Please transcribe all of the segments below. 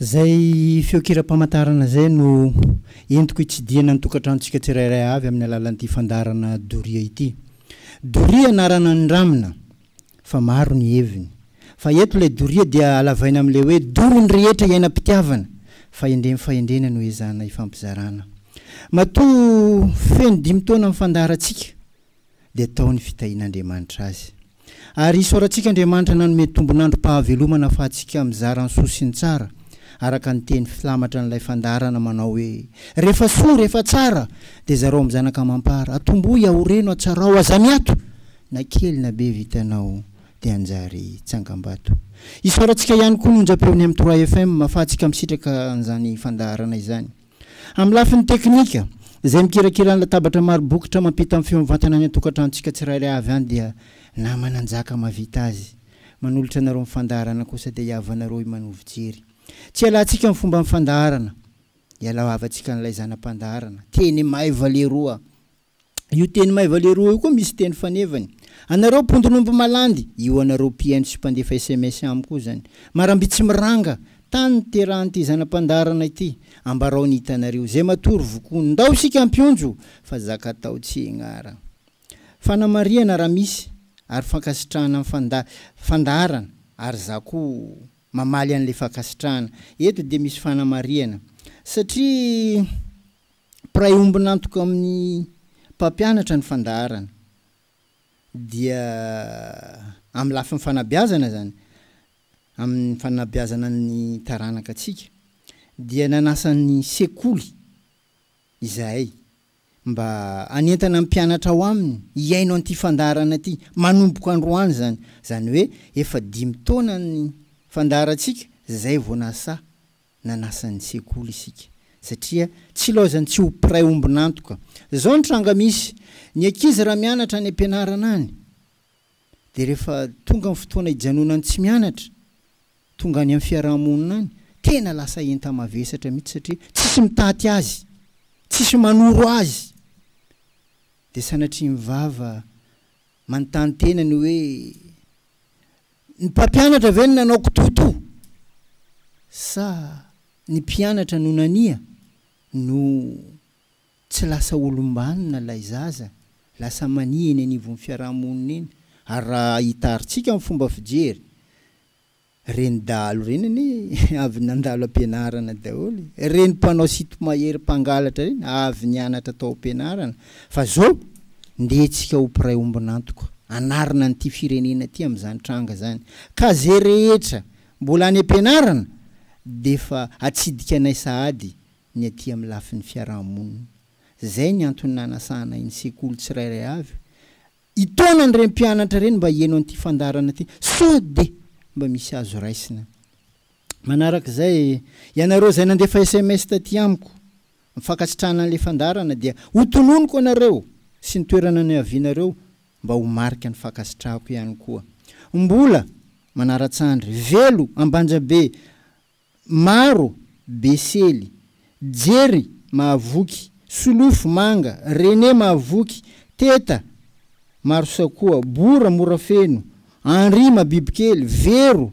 Izay feonkiram-pamantarana izay no entiko hitsidihana ny tokantranontsika tsirairay avy amin'ny alalan'ity fandaharana doria ity. Doria anarana nindramina fa maro ny heviny. Fa eto ilay doria dia halavaina amin'ilay hoe dory ny rehetra iainam-pitiavana, fahendrem fahendrena no ezahana ifampizarana. Matoa feno dimy taona ny fandaharantsika dia tao ny fitahian'Andriamanitra azy. Ary isaorantsika Andriamanitra nanome tombon'androm-pahavelomana afahantsika mizara ny soa sy ny tsara, araka ny teny filamatra an'ilay fandaharana manao hoe, Rehefa soa, rehefa tsara, dia zarao amin'ny zanaka amam-para, atombohy, aoreno, atsarao, aza miato, na kely na be vitanao dia hanjary tsangambato. Isaorantsika ihany koa ny onjam-peon'ny M3FM afahantsika misitraka an'izany fandaharana izany. Amin'ny lafiny teknika, izay mikirakira ny latabatra maro bokotra mampita ny feo mivantana any an-tokantranontsika tsirairay avy any dia namana njaka mahavita azy. Manolotra anareo ny fandaharana kosa dia hiavanareo i Manovo Jery. Tsy ialantsika ny fomban'ny fandaharana. Ialao havantsika an'ilay zana-pandaharana. Teny maiva leroa. Io teny maiva leroa io koa misy teny fanevany. Anareo mpondron'omby malandy, io anareo mpihaino sy mpandefa sms amiko io zany. Maramby tsy miranga, tany niterahan'ity zana-pandaharana ity. Ambarao ny hitanareo, zay matory vokono. Ndao isika hampionjo, fa zaka atao tsy ignaragna. Fanamarihana raha misy, ary fankasitrahana amin'ny fanda, fandaharana, ary za koa mamaly an'ilay fankasitrahana. Eto dia misy fanamarihana, satria. Mpiray ombon'antoka amin'ny mpampianatra ny fandaharana dia amin'ny lafiny fanabeazana izany, amin'ny fanabeazana ny taranaka antsika dia nanasa ny sekoly izahay mba hanentana ny mpianatra ao aminy hihaino an'ity fandaharana ity manomboka androany izany, izany hoe efa dimy taona ny fandaharantsika izay vao nasaha nanasa ny sekoly isika satria tsy ilaozany tsy ho mpiray ombon'antoka. Zao ny tranga misy, ny ankizy raha mianatra any ampianarana any dia rehefa tonga ny fotoana hijanonany tsy mianatra, tonga any amin'ny fiaraha-monina any, tena lasa enta-mavesatra mihitsy satria tsisy mitaty azy, tsisy manoro azy. Dia sanatria ny vava manontany tena ny hoe, Ny mpampianatra ve no nanao kitoatoa sa ny mpianatra no nania no tsy lasa olom-banona ilay zaza, lasa mania eny anivon'ny fiaraha-monina eny? Ary raha hitarintsika ny fomba fijery, ireny dahalo ireny anie avy nandalo am-pianarana daholo e! Ireny mpanao sitomahery mpangalatra ireny avy nianatra tao am-pianarana Fa zao, ndeha tsika ho mpiray ombon'antoka, hanarina an'ity firenena ity amin'izany tranga zany. Ka ze rehetra mbola any am-pianarana d'efa atsidika anay sahady ny aty amin'ny lafiny fiaraha-monina. Zay ny antony nanasana iny sekoly tsirairay avy hitaona an'ireny mpianatra ireny mba hieno an'ity fandaharana ity sao de mba misy azo raisina. Manaraka izay, ianareo izay nandefa sms taty amiko mifankasitrahana an'ilay fandaharana dia ho tononiko anareo sy ny toerana niavianareo mba ho marika ny fankasitrahako ihany koa. Mbola manaratsandry, velo, Ambanjabe, maro, Besely, Jerry, Mahavoky, Solofo, Manga, René, Mahavoky, Teta, Marosakoa, Bora, Morafeno, Henri, Mabibikely, Vero,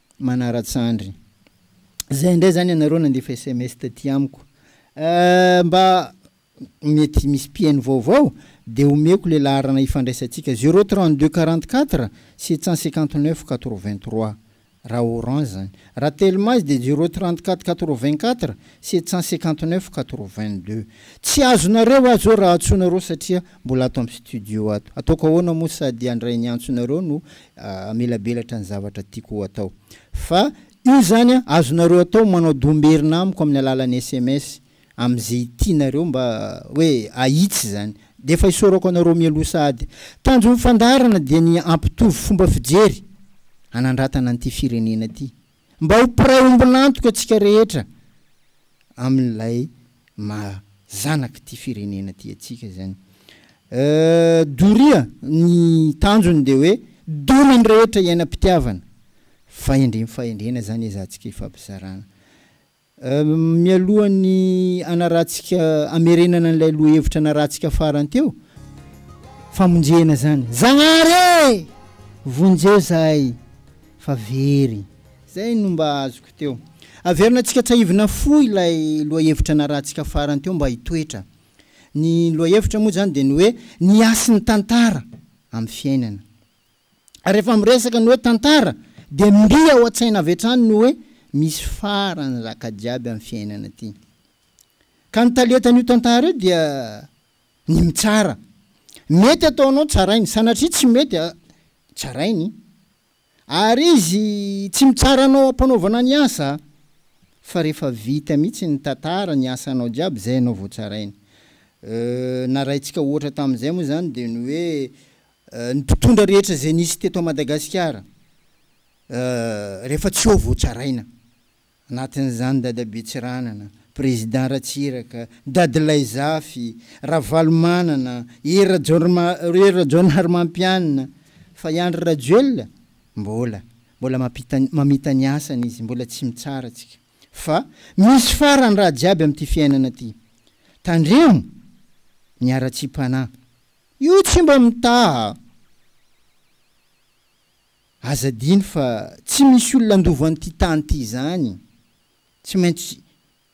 manaratsy andry. Zay ndray zany ianareo nandefa sms taty amiko eh, mba mety misy mpiheno vaovao dia omeko le laharana hifandraisantsika zero trente deux quarante quatre sept cent cinquante neuf quatre vingt trois raha orange zany, raha telma izy dia zero trente quatre quatre vingt quatre sept cent cinquante neuf quatre vingt deux. Tsy azonareo aho zao raha antsoinareo satria Mbola ato amin'ny studio ato. Ataoko ahoana moa sady handray ny antsonareo no hamelabelatra ny zavatra tiako ho atao. Fa io izany azonareo atao manao domberina amiko amin'ny alalan'ny sms amin'izay tianareo mba hoe ahitsy izany. Dia efa isaorako anareo mialoha sahady. Tanjon'ny fandaharana dia ny hampitovy fomba fijery hanandratana an'ity firenena ity. Mba ho mpiray ombon'antoka antsika rehetra amin'ilay maha zanak'ity firenena ity antsika izany. Doria, ny tanjony dia hoe dona ny rehetra iainam-pitiavana. Fahendrem-fahendrena izany ezahantsika ifampizarana. Mialohan'ny hanarantsika, hamerenana an'ilay lohahevitra narantsika farany teo, famonjena izany, Zagnahary e! vonjeo izahay fa very. Izay no mba azoko teo. Averina antsika tsahivina fo ilay lohahevitra narantsika farany teo mba hitoetra. Ny lohahevitra moa izany dia ny hoe ny hasin'ny tantara amin'ny fiainana. rehefa miresaka ny hoe tantara dia mby ao an-tsaina avy hatrany ny hoe misy farany zaka jiaby amin'ny fiainana ity. Ka ny talentan'io tantara io dia ny mitsara. Mety ataonao tsarainy, sanatria tsy mety, tsarainy. Ary izy tsy mitsara anao ampanaovana ny asa fa rehefa vita mihitsy ny tantara, ny asanao jiaby izay ianao vao tsarainy. Narahintsika ohatra tamin'izay moa izany dia ny hoe Ny mpitondra rehetra izay nisy teto Madagasikara rehefa tsy eo vao tsaraina. Anatin'izany Dadabe Tsiranana, Président Ratsiraka, Dadilahy Zafy, Ravalomanana, Hery Rajaonarimampianina. Fa i Andry Rajoelina? Mbola. Mbola mamita ny asany izy, mbola tsy mitsara tsika. Fa misy farany raha jiaby amin'ity fiainana ity. Tandremo ny haratsiam-panahy Io tsy mba mitaha. Aza adino fa tsy misy olona handova an'ity tany ity izany. Tsy maintsy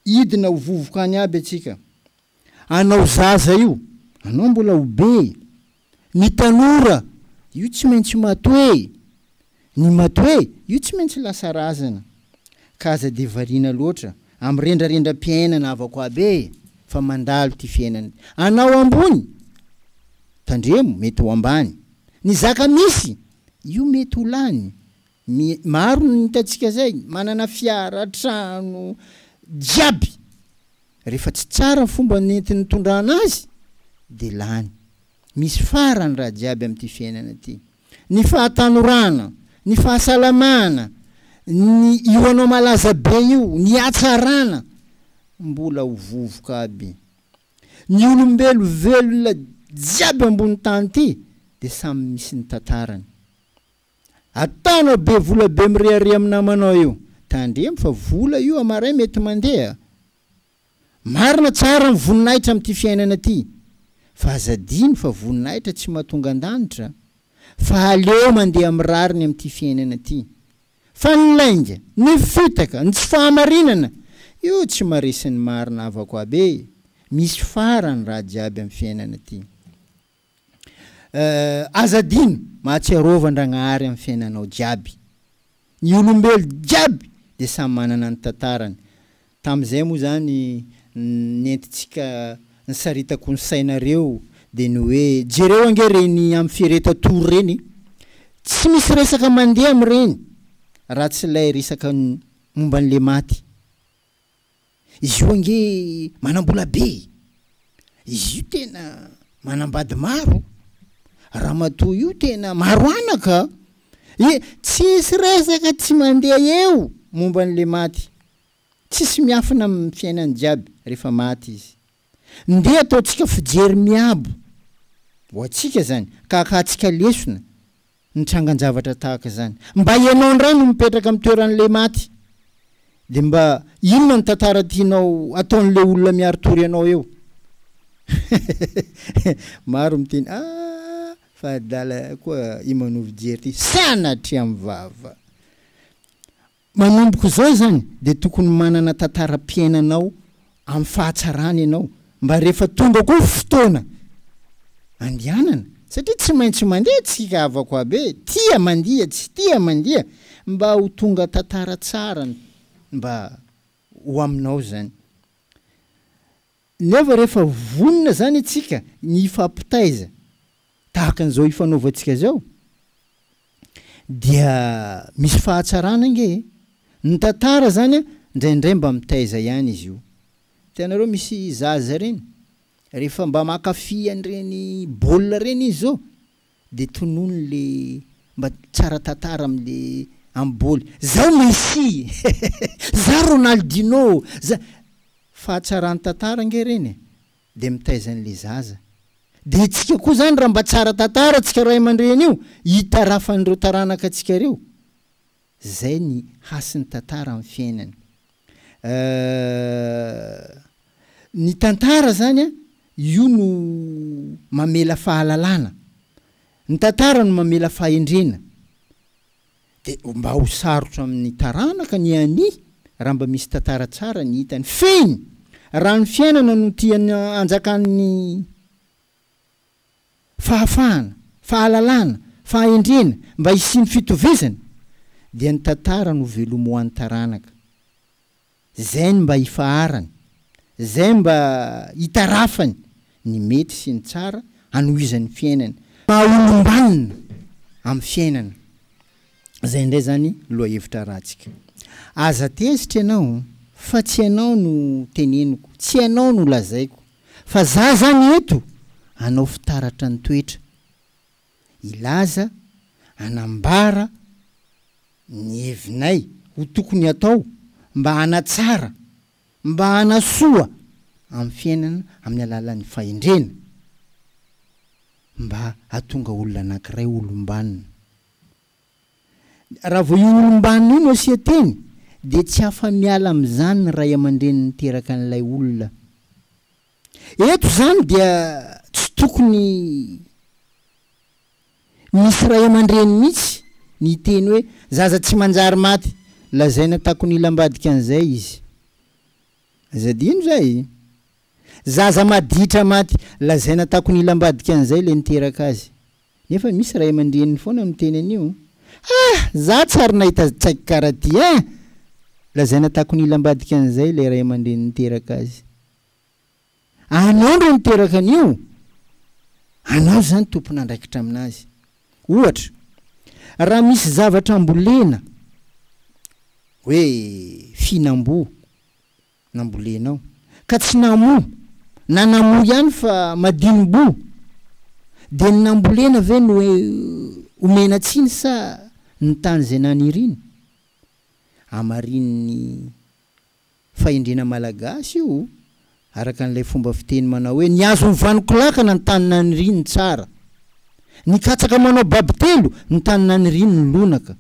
hidina ho vovoka any aby antsika. Anao zaza io, anao mbola ho be. Ny tanora, io tsy maintsy matoe. Ny madoe, io tsy maintsy lasa razana, ka aza dia variana loatra, amin'ny rendrarendram-piainana havako aby e! fa mandalo ity fiainana ity. Anao ambony, tandremo, mety ho ambany. Ny zaka misy, io mety ho lany. Mi, maro ny hitantsika zay, manana fiara, trano, jiaby. Rehefa tsy tsara ny fomba nenti-nitondrana azy, dia lany. Misy farany raha jiaby amin'ity fiainana ity. ny fahatanorana, ny fahasalamana, ny io anao malaza be io, ny hatsarana, mbola ho vovoka aby. Ny olombelo velona jiaby ambony tany ty de samy misy ny tantarany. Ataonao be vola be mirehareha amin'ny namanao io, tandremo fa vola io amaray mety mandeha. Marina tsara ny voninahitra amin'ity fiainana ity, fa aza adino fa voninahitra tsy mahatonga an-danitra, fa aleo mandeha amin'ny rariny amin'ity fiainana ity. Fa ny lainga, ny fitaka, ny tsy fahamarinana, io tsy maresin'ny marina havako aby e! Misy farany raha jiaby amin'ny fiainana ity. Eh, aza adino, mahatsiarova Andragnahary amin'ny fiainanao jiaby. Ny olombelo jiaby dia samy manana ny tantarany. Tamin'izay moa izany nentintsika nisaritako ny sainareo dia ny hoe, jereo ange ireny amin'ny fiereta tour ireny e! Tsy misy resaka mandeha amin'ireny raha tsy ilay resaka momba an'ilay maty. Izy io ange manambola be e! Izy io tena manambady maro! Ramatoa io tena maro anaka e! Tsisy resaka tsy mandeha eo momba an'le maty! Tsisy miafina amin'ny fiainany jiaby rehefa maty izy! Ndeha ataontsika fijery miabo ho antsika zany ka akahatsika lesona ny trangan-javatra tahaka izany. Mba ianao indray no mipetraka amin'ny toeran'ilay maty, dia mba inona ny tantara tianao ataon'ilay olona miari-tory anao eo? Maro miteny, ah! fa adala koa i Manovo Jerry ity, sanatria mivava! Manomboka izao izany dia tokony manana tantaram-piainanao amin'ny fahatsarana ianao mba rehefa tonga koa fotoana andianana satria tsy maintsy mandeha tsika havakoabe tia mandia tsy tia mandia mba ho tonga tantara tsara mba ho aminao izany. Nefa rehefa vonona izany isika ny hifampitaiza tahaka an'izao hifanaovantsika izao dia misy fahatsarana ange e! Ny tantara izany indraindray mba mitaiza ihany izy io. Hitanareo misy zaza ireny rehefa mba mankafy an'ireny baolina ireny izy izao, Dia tonony le mba tsara tantara am le am bôly. Zao Messi! Za Ronaldinho! Za Fahatsaran tantara ange reny e! Dia mitaiza an le zaza. Dia itsika koa zany raha mba tsara tantara tsika ray aman-dreny io, itarafan ireo taranaka tsika reo. Zay ny hasin'ny tantara amin'ny fiainany. Euh. Ny tantara zany an, io no mamela fahalalana. Ny tantara no mamela fahendrena. De mba ho sarotra amin'ny taranaka ny hania raha mba misy tantara tsara ny hitany. Fehiny! Raha ny fiainana no tiany hanjakan'ny fahafahana, fahalalana, fahendrena mba hisian'ny fitovizana dia ny tantara no velomoan'ny taranaka. Izay ny mba hifaharany, izay mba hitarafany ny mety sy ny tsara hanohizan'ny fiainany, maha olombanona amin'ny fiainana. Izay indray izany lohahevitra ratsika. Aza tezitra ianao fa tsy ianao no teneniko, tsy ianao no lazaiko. Fa za zany eto anao fitaratra ny toetra, hilaza, hanambara ny hevinay ho tokony atao mba hanatsara, mba hanasoa amin'ny fiainana amin'ny alalan'ny fahendrena, mba hatonga olona anankiray olom-banona. Raha vao io olom-banona io no asia teny dia tsy afa-miala amin'izany ny ray aman-dreny niteraka an'ilay olona. Eto izany dia tsy tokony misy ray aman-dreny mihitsy ny hiteny hoe zaza tsy manjary maty lazaina takon'ila ambadika an'izay izy. Aza adino izay. Zaza maditra maty lazaina takon'ila ambadika an'izay ilay niteraka azy. Nefa misy ray aman-dreniny foana miteny an'io. Ah! Za tsy ary nahita tsaky kara ty eh! Lazaina takon'ila ambadika an'izay ilay ray aman-dreny niteraka azy. Anao ndray niteraka an'io! Anao izany tompon'andraikitra amin'azy. Ohatra, raha misy zavatra ambolena, hoe fihinam-boa, nambolenao ka tsy namoa na namoa ihany fa madinom-boho dia ny nambolena ve no omena tsiny sa ny tany izay naniriny? Hamarinin'ny fahendrena malagasy io araka an'ilay fomba fiteny manao hoe ny azon'ny vanoko lakana ny tany naniriny tsara, ny katsaka manao babitelo ny tany naniriny lonaka.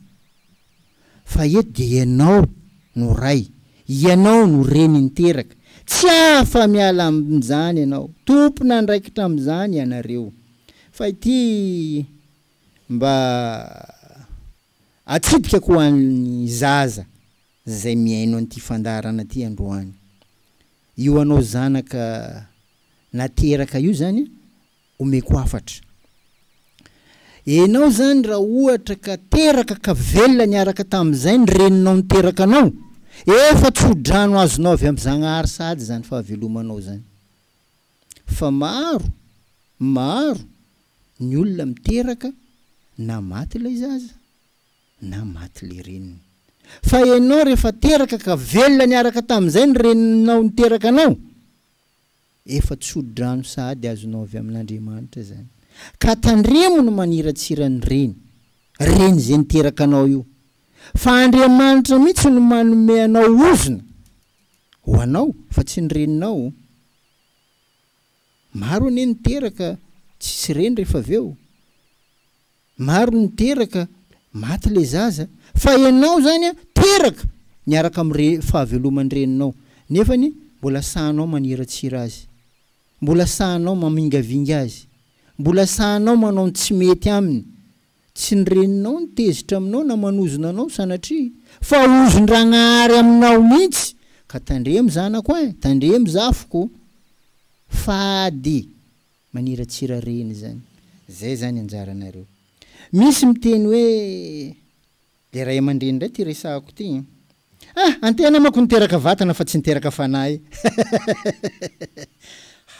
fa eto dia ianao no ray, ianao no reny niteraka, tsy afa-miala amin'izany ianao, tompon'andraikitra amin'izany ianareo, fa ity mba atsipikako ho an'ny zaza izay mihaino an'ity fandaharana ity androany. Io anao zanaka nateraka io izany omeko hafatra. Enao zany raha ohatra ka teraka ka velona niaraka tamin'izay ny reninao niteraka anao, efa tsodrano azonao avy amin'i Zagnahary sahady zany fahavelomanao zany. Fa maro, maro, ny olona miteraka na maty ilay zaza na maty ilay reniny. Fa enao rehefa teraka ka velona niaraka tamin'izay ny reninao niteraka anao, Efa tsodrano sahady azonao avy amin'Andriamanitra izany. Ka tandremo ny maniratsira an'i Reny, Reny izay niteraka anao io. Fa Andriamanitra mihitsy no manome anao ozona ho anao fa tsy ny reninao. Maro anie ny teraka tsisy reny rehefa avy eo. Maro ny teraka, maty ilay zaza, fa ianao izany an, teraka miaraka amin'ny fahaveloman'ny reninao, nefa anie mbola sahanao maniratsira azy, mbola sahanao mamingavinga azy, mbola sahanao manao ny tsy mety aminy. Tsy ny reninao no tezitra aminao na manozona anao sanatria, fa ozon-dRagnahary aminao mihitsy, ka tandremo zanako an, tandremo zafiko, fady Maniratsira reny zany. Zay zany anjaranareo. Misy miteny hoe dia ray aman-dreny ndray ty resahako ty an! Ah! Antehana manko niteraka vatana fa tsy niteraka fanahy.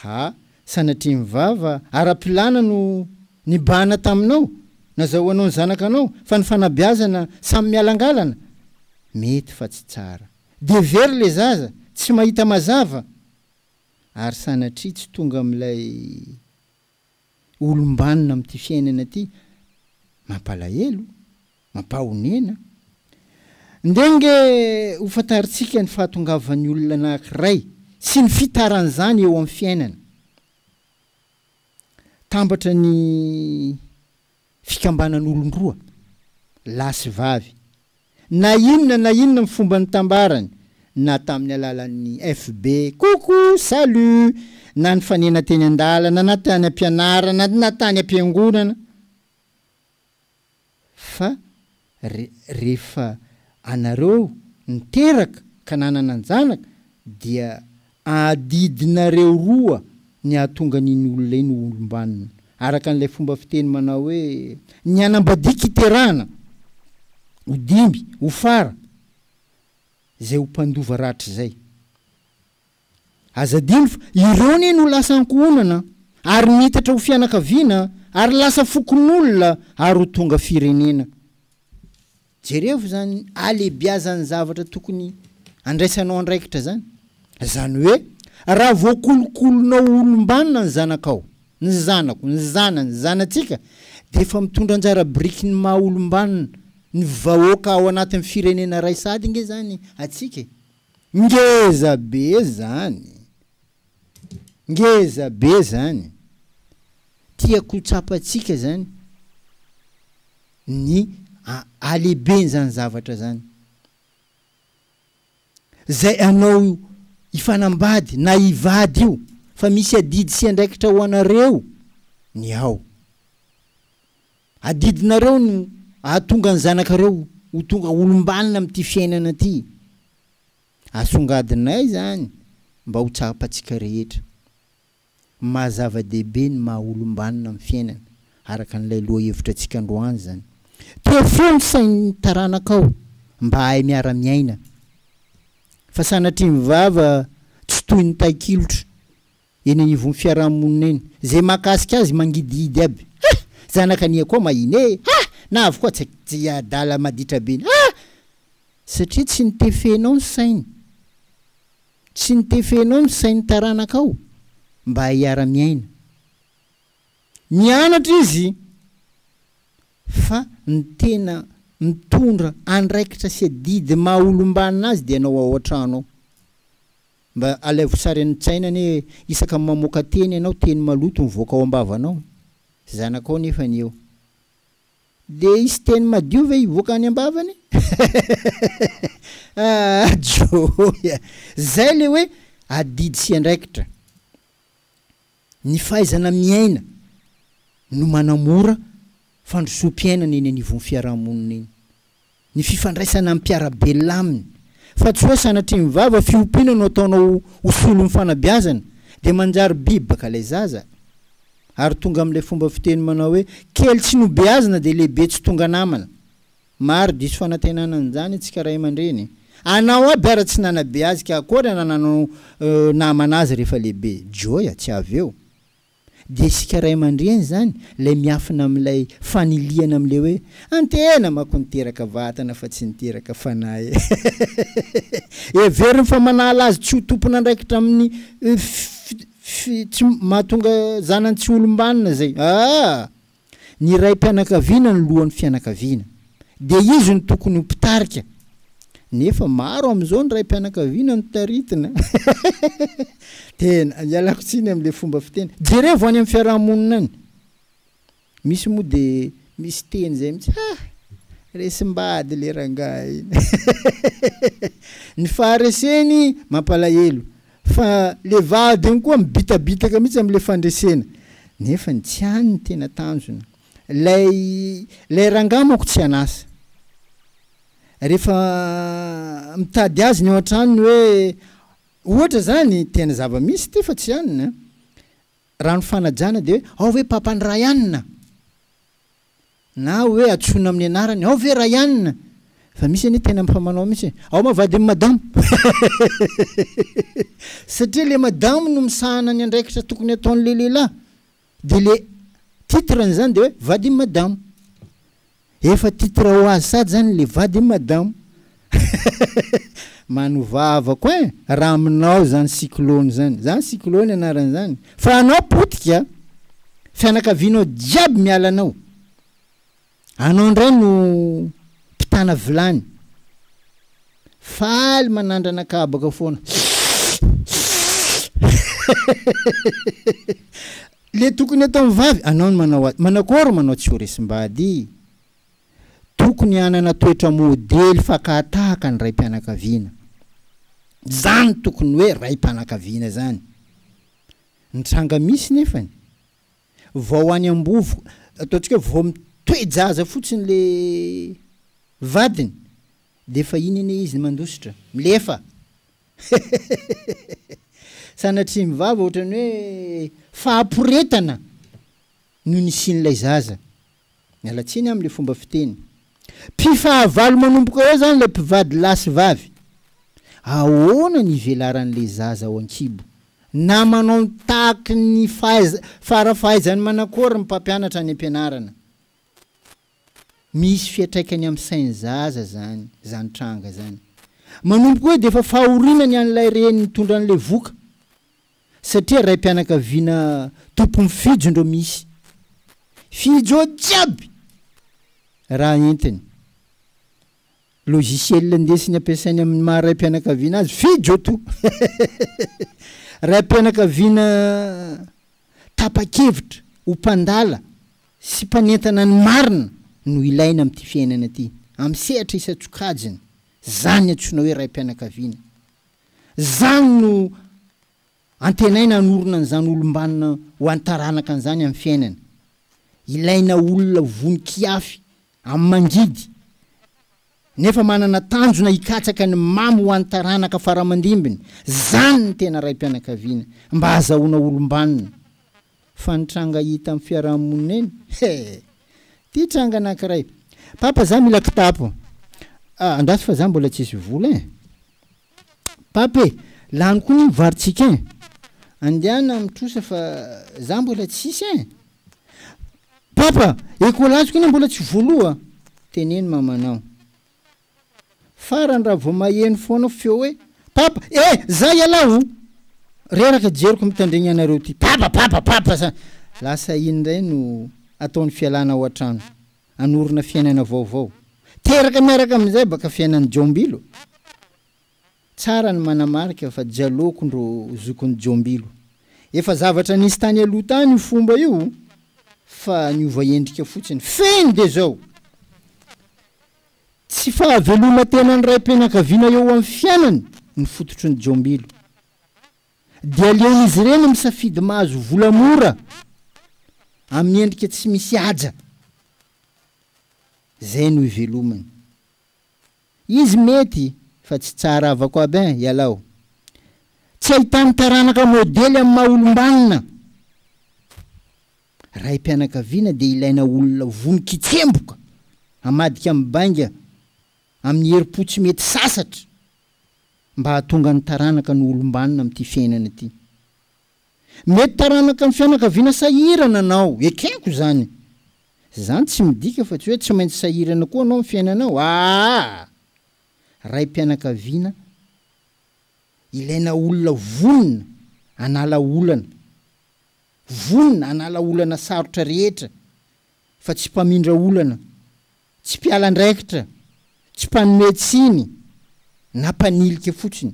Ha! Sanatria ny vava ara-pilana no nibahana taminao, nazahoanao ny zanakanao fa ny fanabeazana samy mialangalana? Mety fa tsy tsara. Dia very le zaza, tsy mahita mazava. ary sanatria tsy tonga amin'ilay olom-banona amin'ity fiainana ity mampalahelo, mampahonena. Ndeha ange hofantarintsika ny fahatongavan'ny olona anankiray sy ny fitaran'izany eo amin'ny fiainana. Tambatra ny. fikambanan'olon-droa, lahy sy vavy, na inona na inona amin'ny fomba nitambarany, na tamin'ny alalan'ny FB, coucou, salut, na nifanena teny an-dalana, na tany am-pianarana, na tany am-piangonana, fa Re, rehefa anareo niteraka ka nanana an-janaka, dia adidinareo roa ny hahatonga an'iny olona iny ho olom-banona, araka an'ilay fomba fiteny manao hoe, Ny hanambadian-kiterahana ho dimby, ho fara, izay ho mpandova rahatrizay. Aza adino fa ireo anie no lasa ankohonana ary niitatra ho fianakaviana ary lasa fokonolona ary ho tonga firenena. Jerevo izany alebiazan'ny zavatra tokony andraisanao andraikitra izany. Izany hoe raha voakolokolonao ho olombanona ny zanakao, ny zanako, ny zana, ny zanatsika dia efa mitondra anjara biriky ny maha olombanona ny vahoaka ao anatin'ny firenena iray sahady ange izany atsika e. Ngeza be zany! Ngeza be zany! Tiako ho tsapantsika zany ny halehiben zany zavatra zany. Zay anao hifanambady na hivady io fa misy adidy sy andraikitra ho anareo ny ao. Adidinareo no ahatonga ny zanakareo ho tonga olombanona amin'ity fiainana ity. Asongadinay izany mba ho tsapantsika rehetra. Maha zava-dehibe ny maha olombanona amin'ny fiainana, araka an'ilay lohahevitra antsika androany izany. Tefeo ny sain'ny taranakao mba hahay miara-miaina, fa sanatrian'ny vava tsy toy ny tahikilotra. Eny anivon'ny fiaraha-monina eny. Izay mahakasika azy mangidihidy aby. Ha! Zanaka ania koa mahina e! Ha! Na avy koa tsy tsy adala maditra be ny. Ha! Satria tsy notefenao ny sainy. Tsy notefenao ny sain'ny taranakao mba hiara-miaina. Nianatra izy fa ny tena mitondra andraikitra sy adidy maha olom-banona azy dia ianao ao an-trano ao. Mba alaivo sary an tsaina anie hoe isaka mamoaka teny ianao teny maloto mivoaka ao ambavanao e! Zanakao nefany eo de hisy teny madio ve hivoaka any ambavany? Aah joy a! Zay le hoe adidy sy andraikitra. Ny fahaizana miaina no manamora fandrosoam-piainana eny anivon'ny fiaraha-monina eny. Ny fifandraisana amin'ny mpiara-belona aminy, fa tsy hoe sanatria mivava fiompiana no ataonao ho solon'ny fanabeazana, dia manjary biby baka ilay zaza, ary tonga amin'ilay fomba fiteny manao hoe, kely tsy nobeazina dia lehibe tsy tonga namana. Maro diso fanantenana an'izany antsika ray aman-dreny. Anao aby ara tsy nanabe azy ka akory na nanao namana azy rehefa lehibe. Joy a, tsy avy eo. Dia isika ray aman-dreny izany ilay miafina amin'ilay fanilihana amin'ilay hoe, antehena manko niteraka vatana fa tsy niteraka fanahy e. Heveriny fa manala azy tsy ho tompon'andraikitra amin'ny fi, fi, fi, tsy mahatonga zanany tsy ho olom-banona izay. Aa! Ny raim-pianakaviana no lohan'ny fianakaviana. Dia izy no tokony ho mpitarika. Nefa maro amin'izao ny raim-pianakaviana no taritina. Tena, ialako tsiny amin'ilay fomba fiteny. Jerevo any amin'ny fiaraha-monina any. Misy moa dia misy teny izay mihitsy, ha! resim-bady ilay rangahy. Ny fahareseny mampalahelo. Fa le vady iny koa mibitabitaka mihitsy am le fandresena. Nefa ny tsy any no tena tanjona. Lay lay rangahy manko tsy an'asa. Rehefa mitady azy ny eo an-tranony hoe ohatra zany, tena zava-misy ty fa tsy any an. Raha ny fanajana dia hoe ao ve papan'i Ryan? na oe atsoina amin'ny anarany ao ve Ryan fa misy anie tena efa manao mihitsy hoe ao ma vadin'i madamo satria le madamo no misahana ny andraikitra tokony ataon'le lehilahy de le titre an'izany de hoe vadin'i madamo efa titre ho azy sady zany le vadin'i madamo Manova avako hein raha aminao zany cyclone zany, zany cyclone anarany zany fa anao potika fianakavianao jiaby miala anao, anao indray no mpitana vilany, faly manandrana kabaka foana le tokony ataony vavy anao no manao azy, manakôry manao tsy ho resim-bady. Tokony hanana toetra modely fakàtahaka ny raim-pianakaviana. Izany tokony hoe raim-panakaviana izany. Ny tranga misy nefany, vao any ambovo, ataontsika hoe vao mitoe-jaza fotsiny ilay vadiny, dia efa iny anie izy ny mandositra, milefa! Sanatria mivava ohatran'ny hoe fahaporetana! no nisian'ilay zaza. Miala tsiny amin'ny fomba fiteny. Mpifahavalo manomboka eo izany ilay mpivady lahy sy vavy. Ahoana ny ivelaran'ilay zaza ao an-kibo? Na manao ny tahaky ny fara fahaizany manakory ny mpampianatra any am-pianarana? Misy fiantraikany amin'ny sain'ny zaza izany, izany tranga izany. Manomboka eo dia efa fahoriana ny an'ilay reny nitondra an'ilay voka. satria raim-pianakaviana tompon'i Fijo ndro misy Fijo ao jiaby raha entiny. Logiciel ndesiny ampiasainy amin'ny maha raim-pianakaviana azy Fijo to! Raim-pianakaviana tapa-kevitra ho mpandala sy mpanentana ny marina no ilaina amin'ity fiainana ity, amin'ny sehatra isan-tsokajiny, zany antsoina hoe raim-pianakaviana. Izany no antenaina hanorina an'izany olom-banona ho an'ny taranaka an'izany amin'ny fiainany. Ilaina olona vonon-kiafy amin'ny mangidy, nefa manana tanjona hikatsaka ny mamy ho an'ny taranaka fara-mandimbiny. Izany ny tena raim-pianakaviana, mba hahazahoana olom-banona. Fa ny tranga hita amin'ny fiaraha-monina eny he! Ity tranga anankiray, Papa za mila kitapo, ah andraso fa za mbola tsisy vola eh! Papa e! Lany koa ny varotsika eh! Andiana amin'ny trosa fa za mbola tsisy eh! Papa! Ekolaziko anie mbola tsy voaloa! Teneno mamanao. Farany raha vao maheno foana feo hoe Papa eh! za ialahy oh! reraka jeriko mitandregny anareo ty Papa Papa Papa sa lasa iny ndray no atao ny fialana ao an-trano hanorina fiainana vaovao teraka miaraka amin'izay baka fiainan'i Jaombilo Tsara ny manamarika fa Jaloko ndro zokin'i Jaombilo Efa zavatra nisy tany aloha tany io fomba io fa niova endrika fotsiny feno dia zao Tsy fahaveloman-tenan'ny raim-pianakaviana eo amin'ny fiainany ny fototry ny jombilo. Dia aleon'izy ireny misafidy mahazo vola mora amin'ny endrika tsy misy haja, izay no ivelomany. Izy mety fa tsy tsara avako aby an, ialaho. Tsy ahitany taranaka modely amin'ny maha-olom-banona. Raim-pianakaviana dia ilaina olona vonon-kitsemboka hamadika mibainga amin'ny herim-po tsy mety sasatra mba hahatonga ny taranaka no olom-banona amin'ity fiainana ity. Mety taranaka amin'ny fianakaviana sahirana anao, ekeko izany. Izany tsy midika fa tsy hoe tsy maintsy sahirana koa anao amin'ny fiainanao, aa! Raim-pianakaviana ilaina olona vonona hanala olana Vonona hanala olana sarotra rehetra fa tsy mpamindra olana, tsy mpiala andraikitra, tsy mpanome tsiny na mpanilika fotsiny.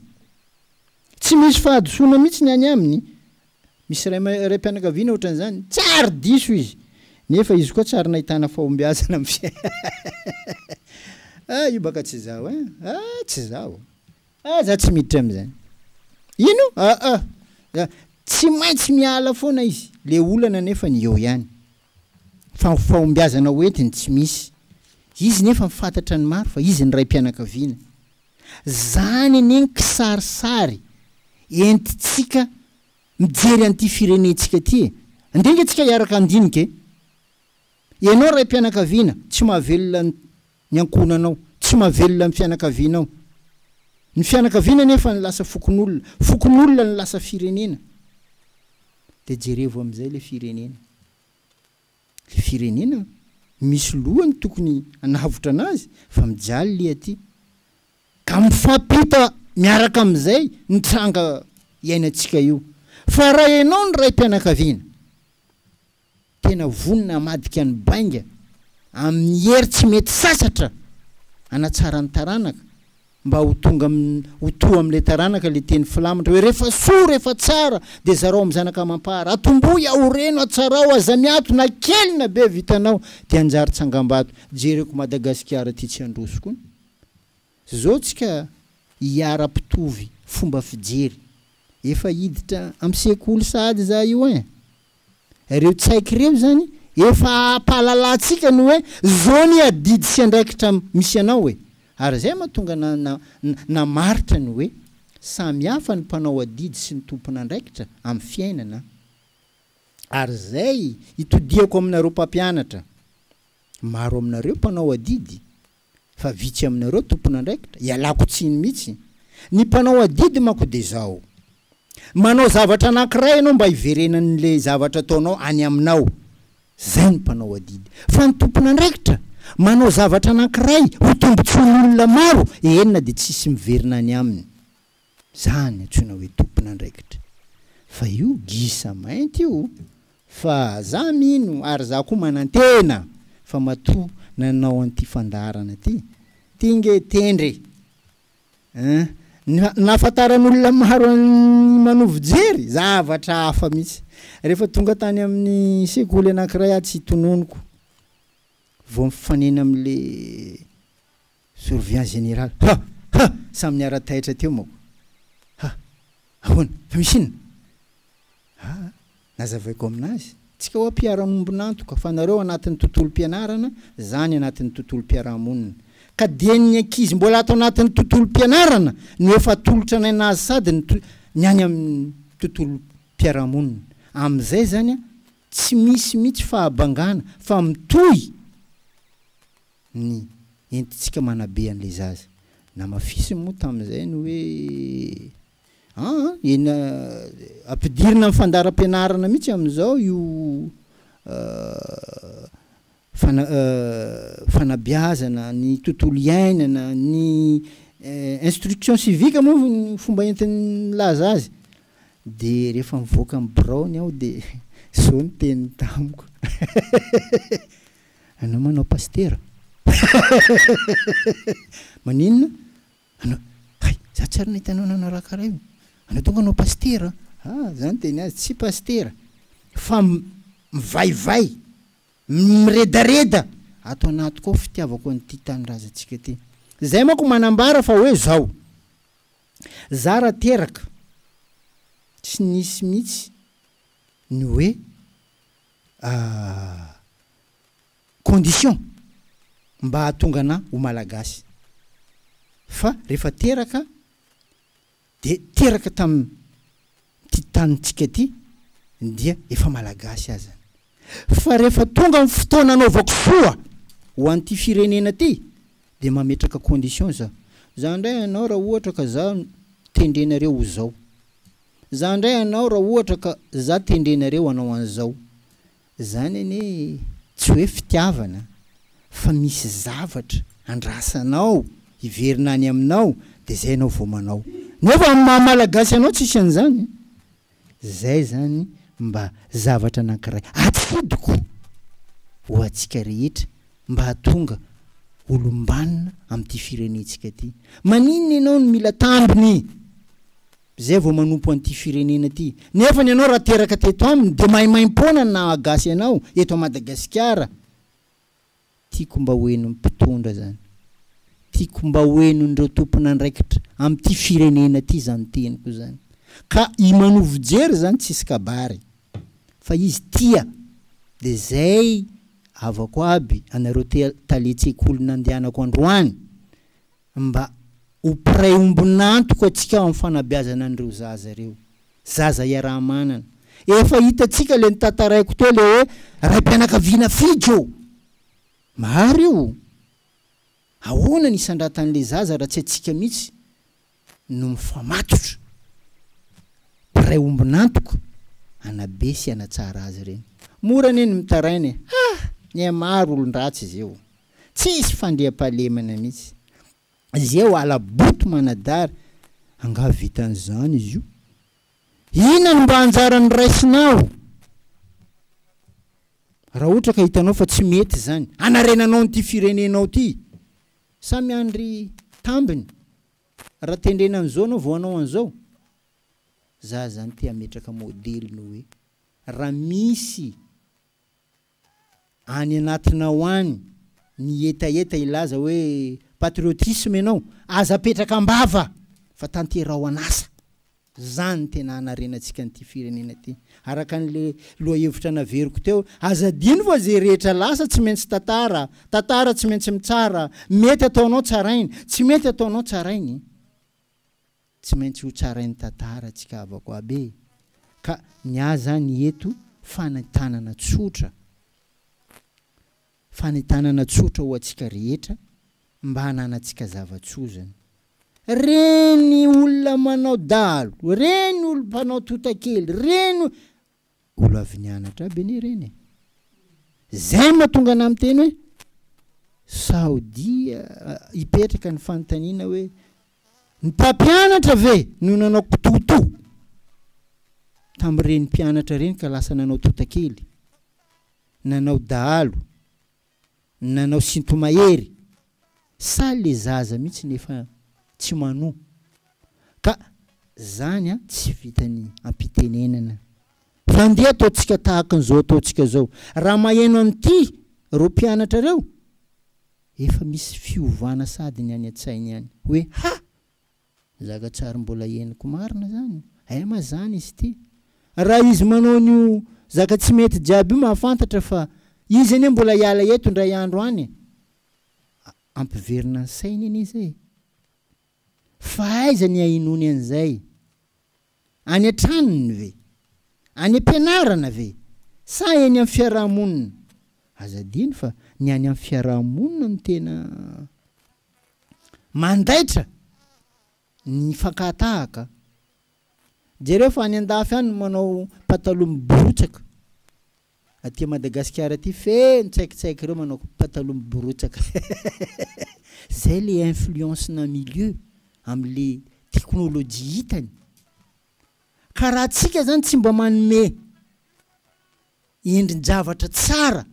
Tsy misy fahadisoana mihitsy ny any aminy. Misy ray raim-pianakaviana ohatran'izany, tsy ary diso izy, nefa izy koa tsy ary nahitana fahombiazana amin'ny fiainana. Ah, io baka tsy izaho eh! Ah, tsy izaho. Ah za tsy miditra amizany. Ino? Aa za tsy maintsy miala foana izy le olana nefany eo ihany fa fahombiazana ho entiny tsy misy izy nefa ny fantatra ny maro fa izy ny raim-pianakaviana zany anie ny kisarisary entitsika mijery an'ity firenentsika ty e andeha nge tsika hiaraka handinika e ianao raim-pianakaviana tsy mahavelona ny ny ankohonanao, tsy mahavelona ny fianakavianao. Ny fianakaviana anefa no lasa fokonolona, fokonolona no lasa firenena. Dia jerevo amin'izay ilay firenena. Ilay firenena misy lohany tokony hanavotra anazy fa mijaly lia aty. Ka mifampita miaraka amin'izay ny tranga iainantsika io. Fa raha ianao no raim-pianakaviana, Tena vonona hamadika ny bainga amin'ny hery tsy mety sasatra hanatsara ny taranaka mba ho tonga ho toa amin'ilay taranaka ilay teny filamatra hoe rehefa soa, rehefa tsara dia zarao amin'ny zanaka amam-para. Atombohy aho, reno, atsarao, aza miato na kely na be vitanao dia hanjary tsangambato. Jereko Madagasikara ity tsy handroso koa. Zao tsika hiara mpitovy fomba fijery. Efa hiditra am sekoly sahady za io ein. Reo tsaiky reo zany efa ampahalalantsika ny hoe zao ny adidy sy andraikitra misy anao e. Ary zay mahatonga na na namaritra ny hoe samy hafa ny mpanao adidy sy ny tompon'andraikitra am fiainana. Ary zay itodihako aminareo mpampianatra. Maro aminareo mpanao adidy fa vitsy aminareo tompon'andraikitra, ialako tsiny mihitsy. Ny mpanao adidy manko dia izao. Manao zavatra anankiray ianao mba hiverenan'ilay zavatra ataonao any aminao. Izay ny mpanao adidy. Fa ny tompon'andraikitra, manao zavatra anankiray ho tombontsoan'olona maro, eny na dia tsy hisy miverina any aminy. Izany antsoina hoe tompon'andraikitra. Fa io gisa mainty io fa za mino ary za koa manantena fa matoa nanao an'ity fandaharana ty ty nge tendre eh nahafantaran'olona maro an'i Manovo Jery zavatra hafa mihitsy rehefa tonga tany amin'ny sekoly anakiray atsy tononiko vao mifanena amle Surveillant général, ha! ha! Samy niara-taitra teo manko. Ha! Ahoana? Fa misy inona? Ha! Nazavaiko amin'azy, tsika hoa mpiara-miombon'antoka fa nareo anatin'ny tontolom-pianarana, za ny anatin'ny tontolom-piarahamonina. Ka dia ny ankizy mbola ato anatin'ny tontolom-pianarana no efa atolotra anay nazy sady ny ny any amin'ny tontolom-piarahamonina. Amin'izay izany an, tsy misy mihitsy fahabangana fa mitohy. ny entintsika manabe an'ilay zaza. Namafisiny moa tamin'izay ny hoe an, eny ampidirina amin'ny fandaharam-pianarana mihitsy amin'izao io fana fanabeazana ny tontolo iainana, ny instruction civique moa ny fomba entiny milaza azy. Dia rehefa mivoaka ny biraony aho dia izao no teniny tamiko. Anao manao pasitera? Maninona? Anao, hay, za tsy ary nahita anao nanaraha karaha io. Anao donga no pasitera? Ah, za niteny azy, tsy pasitera, fa mivaivay, miredareda ato anatiko ao fitiavako an'ity tanindrazantsika ity. Zay manko manambara fa hoe zao, za raha teraka, tsy nisy mihitsy ny hoe condition mba hahatonga anà ho Malagasy. Fa rehefa teraka dia teraka tamin'ity tanintsika ity dia efa Malagasy azany. Fa rehefa tonga ny fotoana hanaovako soa ho an'ity firenena ity dia mametraka condition za. Za indray anao raha ohatra ka za tendrenareo ho zao. Za ndray hanao ra ohatra ka za tendrenareo hanao anzao. Zany anie tsy hoe fitiavana fa misy zavatra andrasanao hiverina any aminao de zay anao vao manao. Nefa am maha malagasy anao tsisy anzany. Zay zany mba zavatra anankiray atsidiko ho atsika rehetra mba hahatonga olombanona am ty firenentsika ty. Maninona enao no mila tambiny? Izay vao manompo an'ity firenena ity. Nefa ny anao raha teraka teto aminy dia maimaimpoana ny naha gasy anao eto a Madagasikara. Tiako mba ho henon'ny mpitondra izany. Tiako mba ho henon'ireo tompon'andraikitra amin'ity firenena ity izany teniko izany. Ka i Manovo Jery izany tsisy kabary. Fa izy tia. Dia izay havako aby anareo tale-tsekoly nandehanako androany. Mba ho mpiray ombon'antoka antsika ao amin'ny fanabeazana an'ireo zaza ireo. Zaza iaraha-manana. Efa hitantsika ilay notantaraiko teo ilay hoe raim-pianakaviana Fijo. Marary io. Ahoana ny hisandratan'ilay zaza raha tsy antsika mihitsy no mifamatotra. Mpiray ombon'antoka hanabe sy hanatsara azy ireny. Mora anie ny mitaraina e. Ha! Ny ahy maro olon-dratsy izay o. Tsisy fandriampahalemana mihitsy. Izay oala boto manadary, angaha vitan'izany izy io? Inona no mba anjara noraisinao? Raha ohatra ka hitanao fa tsy mety izany, hanarenanao an'ity firenenao ity, samy handry tambiny, raha tendrena an'izao ianao vao hanao an'izao? Za zany te hametraka modely ny hoe, raha misy, any anatinao any ny hetaheta hilaza hoe patriotisme ianao, aza apetraka am-bava fa tanteraho an'asa. Zany tena hanarenantsika an'ity firenena ity. Araka an'le lohahevitra naveriko teo, aza adino fa ze rehetra lasa tsy maintsy tantara, tantara tsy maintsy mitsara, mety ataonao tsarainy, tsy mety ataonao tsarainy. Tsy maintsy ho tsarain'ny tantara tsika havako aby e! Ka ny ahy zany eto fanentanana tsotra, fanentanana tsotra ho antsika rehetra mba hananantsika zava-tsozina. Reny olona manao dahalo, reny olom-panao totakely, reny Olo avy nianatra aby anie ireny e! Zay no mahatonga anah miteny hoe sao dia hipetraka ny fanontaniana hoe ny mpampianatra ve no nanao kitoto tamin'ireny mpianatra ireny ka lasa nanao totakely, nanao dahalo. nanao sintomahery sa le zaza mihitsy ny efa tsy manoa ka zany an tsy vitany ampitenenana fa ndeha ataontsika tahaka an'izao ataontsika zao raha maheno an'ity reo mpianatra reo efa misy fiovana sady ny any an-tsainy any hoe ha! Mizaka tsary mbola henoko marina zany eh ma zany izy ity raha izy manao an'io zaka tsy mety jiaby io mahafantatra fa izy anie mbola hiala eto indray andro any e! ampiverina ny sainy anie zay fa aiza ny ahinoany an'izay? Any an-tranony ve? Any am-pianarana ve? Sa eny amin'ny fiaraha-monina? Aza adino fa ny any amin'ny fiaraha-monina no tena mandaitra ny fankahatahakaa. Jereo fa any an-dafy any no manao pataloha miborotsaka Aty Madagasikara aty feno tsaikitsaiky ireo manao pataloha miborotsaka Zay le influence na milieu am le technologie hitany Ka raha tsika zany tsy mba manome endrin javatra tsara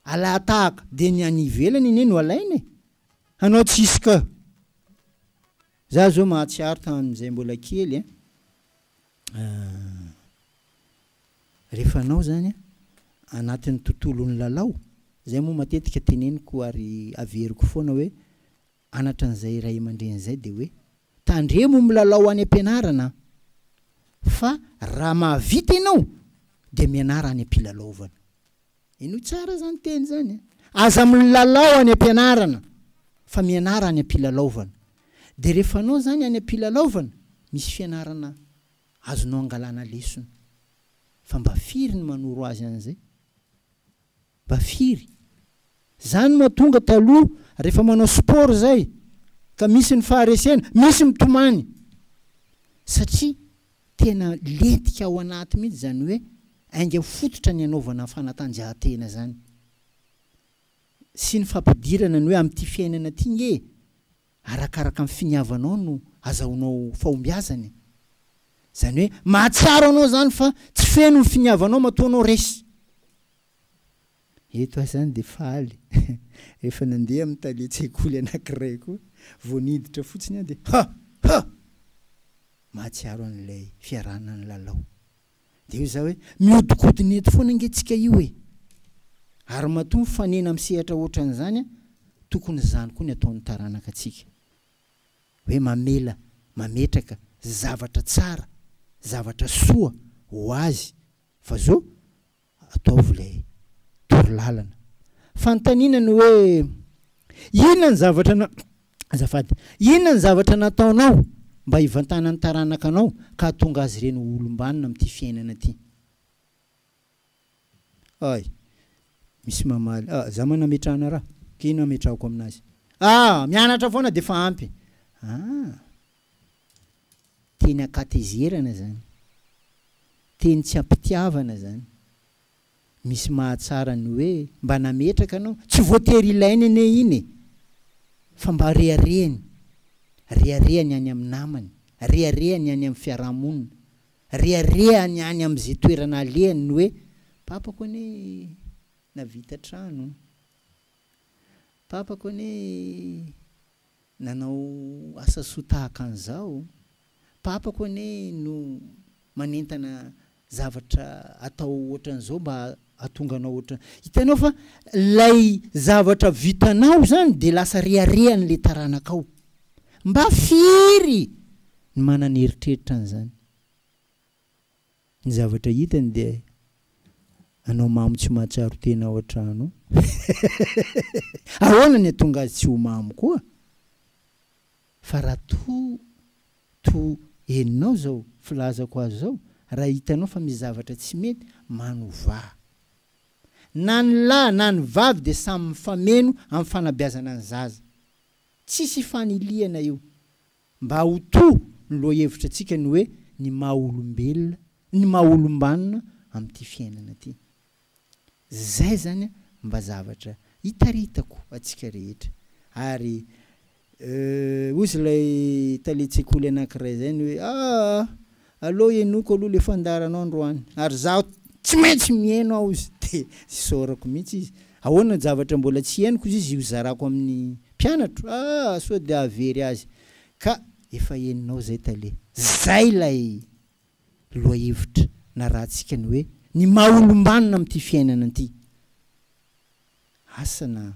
alahatahaka de ny any ivelany anie no alaina e Hanao tsisy ka Za zao mahatsiaro tam zay mbola kely an Rehefa anao izany anatin'ny tontolon'ny lalao, izay moa matetika teneniko ary averiko foana hoe anatra an'izay ray aman-dreny izay dia hoe, tandremo milalao any am-pianarana fa raha mahavita ianao dia mianara any am-pilalaovana. Henoy tsara izany teny izany a! Aza milalao any am-pianarana fa mianara any am-pilalaovana. Dia rehefa anao izany any am-pilalaovana, misy fianarana Azonao angalana lesona. Fa mba firy ny manoro azy an'izay? Mba firy? Zany no mahatonga taloha rehefa manao sport zay ka misy ny faharesena, misy mitomany. Satria tena lentika ao anaty mihitsy zany hoe ainga fototra ny anaovana fanatanjahantena zany. Sy ny fampidirana ny hoe amin'ity fiainana ity nge Arakaraka ny finiavanao no azahoanao fahombiazana e! Izany hoe mahatsiaro anao izany fa tsy feno ny finiavanao matoa anao resy. Eto aho izany dia faly rehefa nandeha amin'ny talen-tsekoly anankiray koa vao niditra fotsiny aho dia ha! ha! mahatsiaro an'ilay fiarahana nilalao. Dia hoy izaho hoe, Mihodinkodina eto foana ange tsika io e! Ary matoa mifanena amin'ny sehatra hoatran'izany, tokony izany koa ny ataon'ny taranaka antsika. Hoe mamela, mametraka zavatra tsara, zavatra soa ho azy. Fa izao, Ataovy ilay torolalana. Fanontaniana ny hoe, Inona ny zavatra, azafady, inona ny zavatra nataonao mba hivantanan'ny taranakanao ka hahatonga azy ireny ho olom-banona amin'ity fiainana ity? Ay, misy mamaly, Ah, izaho manana ametrahana raha, ka inona ametrahako aminazy? Ah, mianatra foana dia efa ampy. Ah! Teny ankatezerana zany. Teny tsy ampitiavana zany. Misy mahatsara ny hoe mba nametraka anao. Tsy voatery ilainy anie iny e! Fa mba reharehany. Reharehany any amin'ny namany. Reharehany any amin'ny fiaraha-monina. Reharehany any amin'izay toerana alehany ny hoe, papako anie navita trano. Papako anie. nanao asa soa tahaka an'izao, papako anie no manentana zavatra atao ohatran'izao mba hahatonga anao ohatran. Hitanao fa ilay zavatra vitanao izany dia lasa reharehan'ilay taranakao. Mba firy ny manana eritreritra an'izany? Ny zavatra hitany dia anao mamo tsy mahatsiaro tena ao an-trano ao. Ahoana ny hahatonga azy tsy ho mamo koa? Fa raha toa toa henonao izao filazako azy izao, raha hitanao fa misy zavatra tsy mety, manovà. Na ny lahy na ny vavy dia samy mifameno amin'ny fanabeazana ny zaza. Tsisy ifanilihana io. Mba ho toa ny lohahevitra antsika ny hoe ny maha olombelona, ny maha olombanona amin'ity fiainana ity. Izay izany mba zavatra hitaritako antsika rehetra ary euh hozy ilay talen-tsekoly anankiray izay ny hoe aah Allo henoko aloha le fandaharanao androany ary zaho tsy maintsy miheno aho izy de isaorako mihitsy izy ahoana javatra mbola tsy henoko izy izy hozarako amin'ny mpianatro ah sao de hahavery azy ka efa henonao zay tale zay ilay lohahevitra narahantsika ny hoe ny maha olombanona amin'ity fiainana ity asa na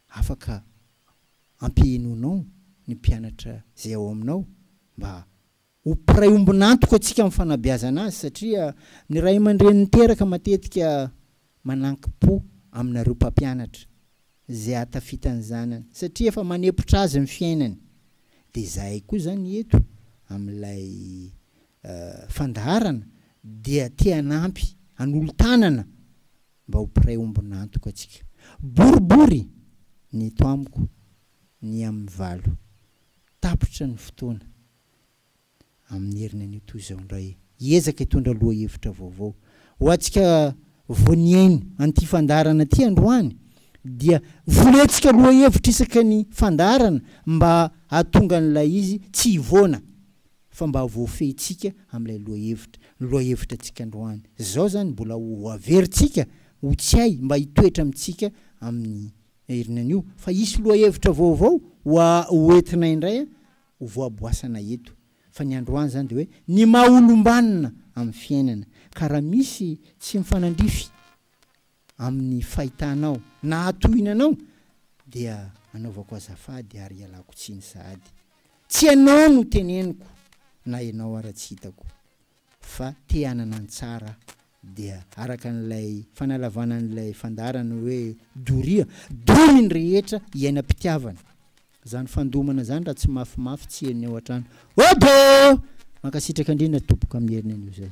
afaka ampihenoinao ny mpianatra izay ao aminao mba Ho mpiray ombon'antoka antsika amin'ny fanabeazana azy satria ny ray aman-dreny niteraka matetika manankim-po aminareo mpampianatra izay ahatafita ny zanany satria efa manepotra azy ny fiainany. Dia izahay koa izany eto amin'ilay fandaharana dia te hanampy hanolo-tanana mba ho mpiray ombon'antoka antsika. Boribory ny eto amiko ny amin'ny valo tapitra ny fotoana. amin'ny heriny anio toy izao indray, hiezaka hitondra lohahevitra vaovao. Ho antsika vao nihaino an'ity fandaharana ity androany dia voletsika lohahevitra isaky ny fandaharana mba hahatonga an'ilay izy tsy hivoana fa mba ho voafehintsika amin'ilay lohahevitra. Ny lohahevitra antsika androany izao izany mbola ho averintsika ho tsiahy mba hitoetra amintsika amin'ny heriny anio fa hisy lohahevitra vaovao ho entinay indray ho voaboasana eto fa ny androany izany dia hoe ny maha olombanona amin'ny fiainana ka raha misy tsy mifanandrify amin'ny fahitanao na hatohinanao dia anaovako azafady ary ialako tsiny sahady tsy ianao no teneniko na ianao ara tsy hitako fa te hanana ny tsara dia araka an'ilay fanalavana an'ilay fandaharana hoe doria, dory ny rehetra iainam-pitiavana. Izany fandomana izany raha tsy mafimafy tsy henony ao an-trano. Odo! Mankasitraka indrindra tompoko amin'ny heriny anio izay.